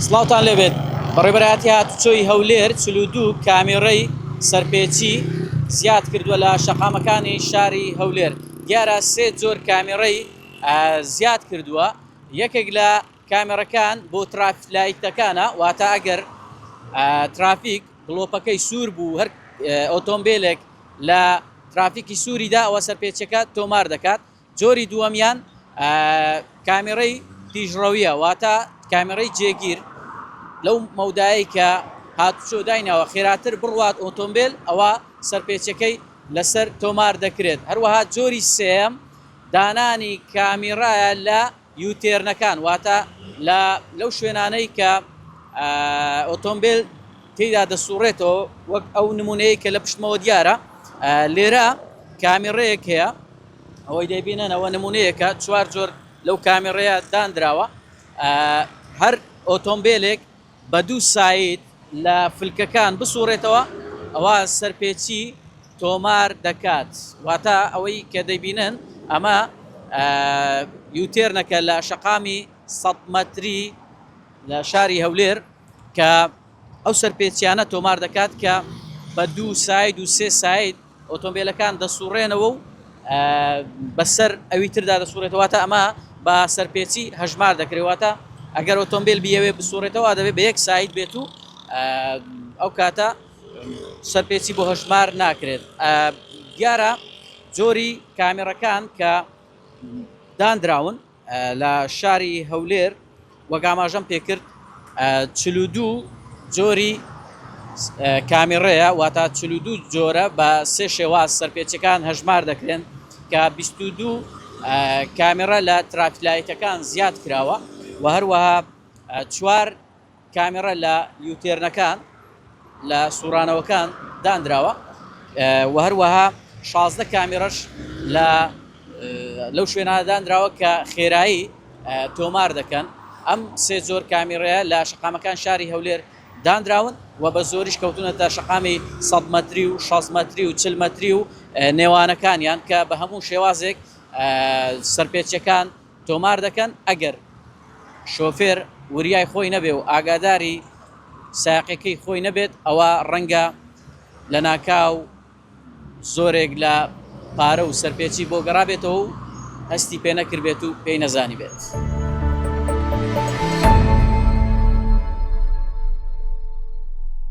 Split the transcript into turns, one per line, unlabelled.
سڵاوتان لێبێت بەڕێبەرایەتی هاتوچۆی هەولێر چل و دوو کامێڕەی سەرپێچی زیاد کردووە لە شەقامەکانی شاری هەولێر دیارە سێ جۆر کامێڕەی زیاد کردووە یەکێک لە کامێڕەکان بۆ ترافیک لایتەکانە واتە ئەگەر ترافیک گڵۆپەکەی سوور بوو هەر ئۆتۆمبیلێک لە ترافیکی سووریدا ئەوە سەرپێچەکە تۆمار دەکات جۆری دووەمیان کامێرەی تیژڕەویە واتە کامێرەی جێگیر لەو مەودایەی کە هاتوچۆ دایناوە خێراتر بڕوات ئۆتۆمبیل ئەوە سەرپێچەکەی لەسەر تۆمار دەکرێت هەروەها جۆری سێەم دانانی کامیڕایە لە یوتێرنەکان واتە لە لەو شوێنانەی کە ئۆتۆمبێل تێیدا دەسوڕێتەوە وەک ئەو نمونەیە کە لە پشتمەوە دیارە لێرە کامیڕەیەک هەیە ئەوەی دەبینەنەوە نمونەیەکە چوار جۆر لەو کامیڕەیە دانراوە هەر ئۆتۆمبیلێک بە دوو ساید لە فلکەکان بسوڕێتەوە ئەوا سەرپێچی تۆمار دەکات واتە ئەوەی کە دەیبینن ئەمە یوتێرنەکە لە شەقامی سەد مەتری لە شاری هەولێر کە ئەو سەرپێچیانە تۆمار دەکات کە بە دوو ساید و سێ ساید ئۆتۆمبێلەکان دەسوڕێنەوە و بەسەر ئەوی تردا دەسوڕێتەوە واتە ئەمە بە سەرپێچی هەژمار دەکرێت واتە ئەگەر ئۆتۆمبیل بیەوێ بسوڕێتەوە دەبێت بە یەک سایت بێت و ئەو کاتە سەرپێچی بۆ هەژمار ناکرێت دیارە جۆری کامێڕەکان کە دانراون لە شاری هەولێر وەک ئاماژەم پێکرد چل و دوو جۆری کامیڕەیە واتا چل و دوو جۆرە بە سێ شێواز سەرپێچەکان هەژمار دەکرێن کە بیست و دوو کامیڕە لە ترافلایتەکان زیاد کراوە و هەروەها چوار کامێرا لە یوتێرنەکان لە سوڕانەوەکان دانراوە و هەروەها شازدە کامێرەش لە لەو شوێنە دانراوە کە خێرایی تۆمار دەکەن ئەم سێ زۆر کامیڕەیە لە شقامەکان شاری هەولێر دانراون و بە زۆریش کەوتونە تا شقامی سە مەتری و شاز مەتری و چل مەتری و نێوانەکانیان کە بە هەموو شێوازێک سەرپێچەکان تۆمار دەکەن ئەگەر شۆفێر وریای خۆی نەبێ و ئاگاداری سایەقەکەی خۆی نەبێت ئەوا ڕەنگە لەناکاو زۆرێک لە پارە و سەرپێچی بۆ گەڕابێتەوە و هەستی پێ نەکردبێت و پێی نەزانیبێت.